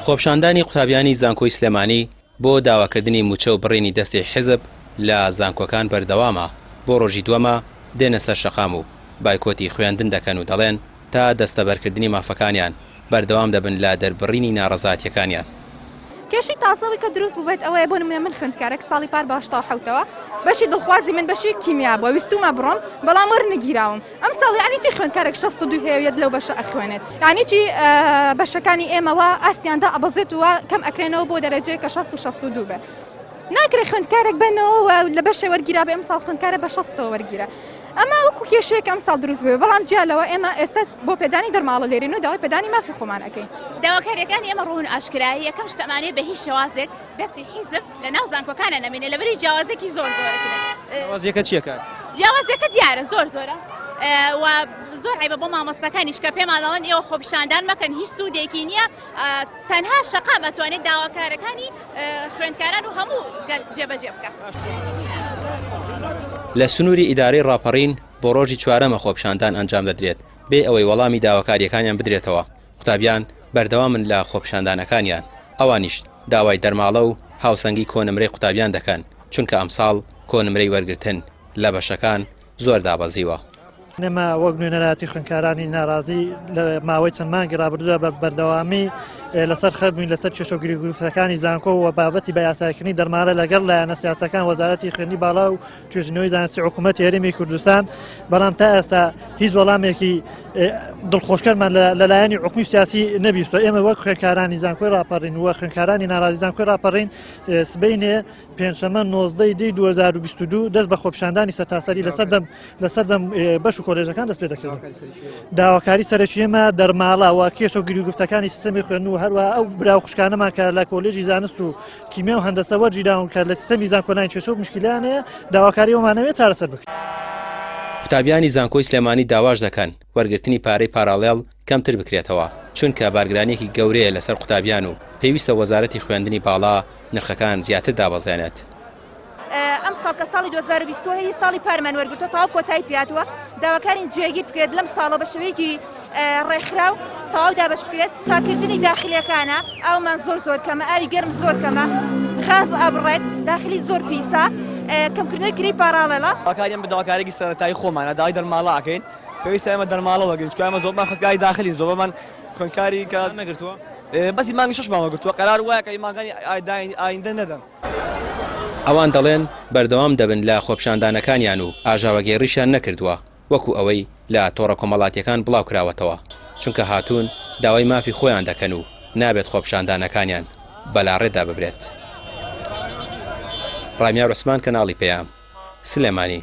خۆپیشاندانی قوتابیانی زانکۆی سلێمانی بۆ داواکردنی مووچە و بڕینی دەستی حیزب لە زانکۆکان بەردەوامە، بۆ ڕۆژی دووەمە دێنە سەر شەقام و بایکۆتی خوێندن دەکەن و دەڵێن تا دەستەبەرکردنی مافەکانیان بەردەوام دەبن لە دەربڕینی ناڕەزایەتییەکانیان. کێشەی تازە ئەوەی کە دروست بووبێت ئەوەیە بۆ نموونە من خوێندکارێک ساڵی پار بە هەشتا و حەوتەوە بەشی دڵخوازی من بەشی کیمیا بووە ویستوومە بڕۆم بەڵام وەرنەگیراوم ئەمساڵ یانی چی خوێندکارێک شەست و دوو هەیە و یەت لەو بەشە ئەخوێنێت یانی چی بەشەکانی ئێمە وا ئاستیان دائەبەزێت و وا کەم ئەکرێنەوە بۆ دەرەجەیەک کە شەست و شەست و دوو بێت ناکرێ خوێندکارێک بنەوە و لە بەشێ وەرگیرابێ ئەمساڵ خوێندکارە بە شەستەوە وەرگیرا ئەمە وەکو کێشەیەک ئەمساڵ دروست بووە، بەڵام جیا لەوە ئێمە ئێستا بۆ پێدانی دەرماڵە لێرەین و داوای پێدانی مافی خۆمان ئەکەین. داواکارییەکانی ئێمە ڕوون و ئاشکرایە، یەکەم شت ئەمانەیە بە هیچ شێوازێک دەستی حیزب لە ناو زانکۆکانا نەمێنێ لەبەری جیاوازییەکی زۆر زۆرە کرێ. جیاوازییەکە چییە کاکە؟ جیاوازییەکە دیارە زۆر زۆرە و زۆر عەیبە بۆ مامۆستاکانیش کە پێمان ئەڵێن ئێوە خۆپیشاندان مەکەن هیچ سوودێکی نییە، تەنها شەقام ئەتوانێت داواکارەکانی خوێندکاران و هەموو گەل جێبەجێ بکات. لە سنووری ئیدارەی ڕاپەڕین بۆ ڕۆژی چوارەمە خۆپیشاندان ئەنجام دەدرێت بێ ئەوەی وەڵامی داواکاریەکانیان بدرێتەوە قوتابیان بەردەوامن لە خۆپیشاندانەکانیان ئەوانیش داوای دەرماڵە و هاوسەنگی کۆنمرەی قوتابیان دەکەن چونکە ئەمساڵ کۆنمرەی وەرگرتن لە بەشەکان زۆر دابەزیوە. نەما وەک نوێنەرایەتی خوێنکارانی ناڕازی لە ماوەی چەند مانگی ڕابردوودا بە بەردەوامی لەسەر خەربووین لەسەر کێشە و گرگروفەکانی زانکۆ و بابەتی بە یاسایکردنی دەرمارە لەگەڵ لایەنە سیاسەکان وەزارەتی خوێنی باڵا و توێژینەوەی زانستی حکوومەت هێرمی کوردستان بەڵام تا ئێستا هیچ وەڵامێکی دڵخۆشکەرمان لەلایەنی حکومی سیاسی نەبیستۆ ئێمە وەک خوێنکارانی زانکۆی راپەڕین وە خوێنکارانی ناڕازی زانکۆی راپەڕین سبینێ پێنجشەممە نۆزدە ی دی دوو هەزار و بیست و دوو دەست بە خۆپیشاندانی سەرتاسەری لە سەردەم لە سەردەم بەش و کۆلێژەکان دەست پێ دەکردن داواکاری سەرەکی ئێمە دەرماڵە و کێشە و گریگفتەکانی سیستەمی خوێن و هەروە ئەو برا خوشکانەمان کە لە کۆلێژی زانست و کیمیا و هەندەسە وەرجیداون کە لە سیستەمی زانکۆلاین کێشە و مشکلانەیە داواکاری ئەومانەوێت چارەسەر بکرێت. قوتابیانی زانکۆی سلێمانی داواش دەکەن وەرگرتنی پارەی پاراڵێڵ کەمتر بکرێتەوە، چونکە بارگرانیەکی گەورەیە لەسەر قوتابیان و پێویستە وەزارەتی خوێندنی باڵا نرخەکان زیاتر دابەزێنێت. ئەمساڵ کە ساڵی دوو هەزار و بیست و سێ ی ساڵی پارمان وەرگرتووە تەواو کۆتایی پێهاتووە، داواکارین جێگیر بکرێت لەم ساڵە بە شێوەیەکی ڕێکخراو تەواو دابەش بکرێت. پاککردنی داخلیەکانە، ئاومان زۆر زۆر کەمە، ئاوی گەرم زۆر کەمە، غاز ئەبڕێت، داخلی زۆر پیسە، کەمکردنەوەی کرێی پاڕاڵێڵە. داواکاریان بە داواکاریەکی سەرەتایی خۆمانە داوای دەرماڵە ئەکەین. پێویستە ئێمە دەرماڵە وەرگرین چونکە ئێمە زۆربەمان خوێندکاری داخلین زۆربەمان خوێندکاری کە مانگتان نەگرتووە؟ بەسی مانگی شەشمان وەرگرتووە قەرار وایە کە مانگانی ئایندە نەدەن. ئەوان دەڵێن بەردەوام دەبن لە خۆپیشاندانەکانیان و ئاژاوەگێڕیشیان نەکردووە وەکو ئەوەی لە تۆڕە کۆمەڵاتییەکان بڵاوکراوەتەوە چونکە هاتوون داوای مافی خۆیان دەکەن و نابێت خۆپیشاندانەکانیان بەلاڕێدا ببرێت. ڕامیار عوسمان کەناڵی پەیام، سلێمانی.